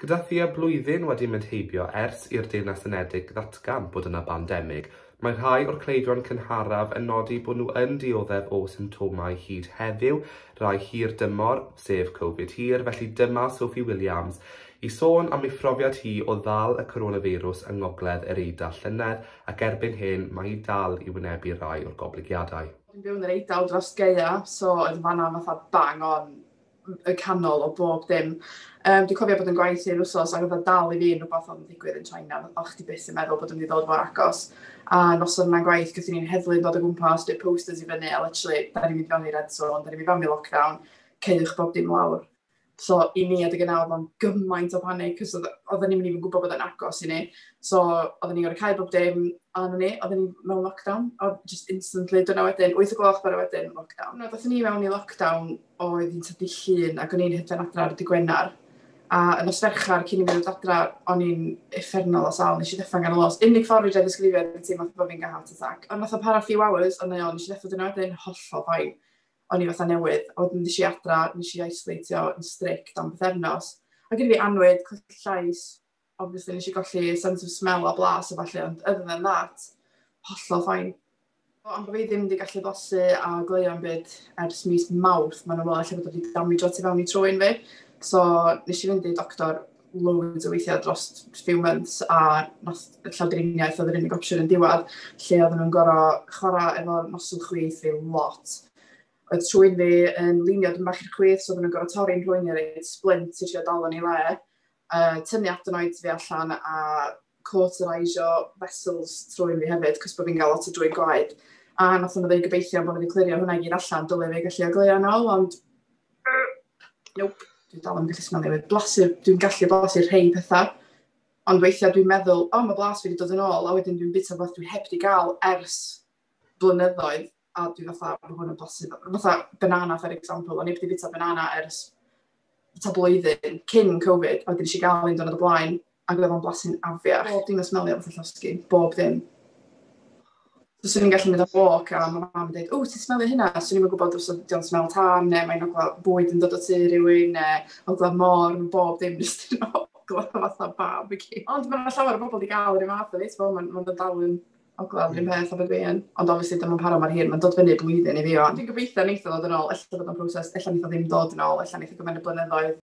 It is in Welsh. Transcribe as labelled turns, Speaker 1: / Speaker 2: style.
Speaker 1: Gyda thua blwyddyn wedi mynd heibio ers i'r Deyrnas Unedig ddatgan bod yna bandemig, mae rhai o'r cleifion cynharaf yn nodi bod nhw yn dioddef o symptomau hyd heddiw, rai hir-dymor, sef Covid hir, felly dyma Sophie Williams i sôn am ei phrofiad hi o ddal y coronafeirws yng Ngogledd yr Eidal llynedd ac erbyn hyn mae hi dal i wynebu rai o'r goblygiadau. Dwi'n byw yn yr Eidal dros gaeaf, so oedd fan'na fatha bang on y canol o bob dim. Um, dwi'n cofio bod yn gwaith i'r wsos ac oedd o'n dal i fi yn rhywbeth oedd yn digwydd yn China. Oedd chdi byth yn meddwl bod yn mynd i ddod mor agos. A nos o'n yna'n gwaith, gyda ni'n heddlu yn dod o gwmpas, dweud posters i fyny, a literally, da ni'n mynd fewn i red zone, da ni'n mynd fewn i lockdown, ceiwch bob dim lawr. So i ni adeg yna oedd o'n gymaint o panic, cos oedden ni'n mynd i'n gwybod bod o'n agos i ni. So oedden ni'n gorau cael bob dim arno ni, oedden ni mewn lockdown, oedd just instantly, dyna wedyn, 8 o gloch bore wedyn, lockdown. Oedden ni mewn i lockdown oedd yn tyfu llun ac o'n i'n hedfan adra ar y dydd Gwener a y nos Fercher cyn i mi ddod adra o'n i'n uffernol o sâl, nes i ddeffro ganol nos. Unig ffordd fedra i ddisgrifio oedd teimlo fatha bod fi'n cael heart attack. Ond fatha para few hours o'n i o'n nes i ddeffro dyna wedyn hollol fine. O'n i fatha newydd. A wedyn ddes i adra, nes i aisolatio yn strict am bythefnos. Oedd gen i fi annwyd, colli llais, obviously nes i golli sense of smell a blas a ballu, ond other than that, hollol ffain. Ond bod fi ddim wedi gallu bosu a gleio yn byd ers mis mawrth, mae'n ymwneud lle bod wedi damage o ti fewn i trwy'n fi. So, nes i fynd i doctor loads o weithiau dros few months a nath y llawdriniaeth oedd yr unig opsiwn yn diwedd lle oedden nhw'n gorau chwarae efo nosol chwith fi lot. Oedd trwy'n fi yn linio dyn bach i'r chwith, so oedden nhw'n gorau torri'n rhwy'n i'r splint i trio dal yn ei le yy, tynnu adenoid fi allan a cauteriseio vessels trwy'n fi hefyd, cos bod fi'n cael lot o drwy gwaed. A nath o'n dweud gobeithio bod nhw wedi clirio hwnna i gyd allan, dylai fi gallu ogleuo yn ôl, ond... Nope, dwi'n dal yn gallu smelio fi. Blasu, dwi'n gallu blasu rhai pethau, ond weithiau dwi'n meddwl, o, oh, mae blas fi wedi dod yn ôl, a wedyn dwi'n bita beth dwi heb wedi gael ers blynyddoedd. a dwi fatha, mae hwn yn bosib. Fatha banana, for example, o'n i wedi bita banana ers ta blwyddyn cyn Covid, a wedyn eisiau gael un dynod o blaen, ac oedd o'n blasu'n afiach. Bob dim yn smelio fatha llosgi, bob dim. So, swn i'n gallu mynd am walk a mae mam yn dweud, o, ti'n smelio hynna? Swn i'n gwybod os ydy'n smel tan, neu mae'n ogla bwyd yn dod o tu rhywun, neu ogla mor, mae bob dim jyst yn ogla fatha barbecue. Ond mae'n llawer o bobl wedi cael yr un fath o fi, mae'n ma dal yn O gweld yr un peth efo fi yn. Ond obviously ddim yn para mor hir, mae'n dod fyny blwyddyn i fi o. Dwi'n gobeithio neith o ddod yn ôl, ella bod o'n broses, ella neith o ddim dod yn ôl, ella neith o gymryd blynyddoedd.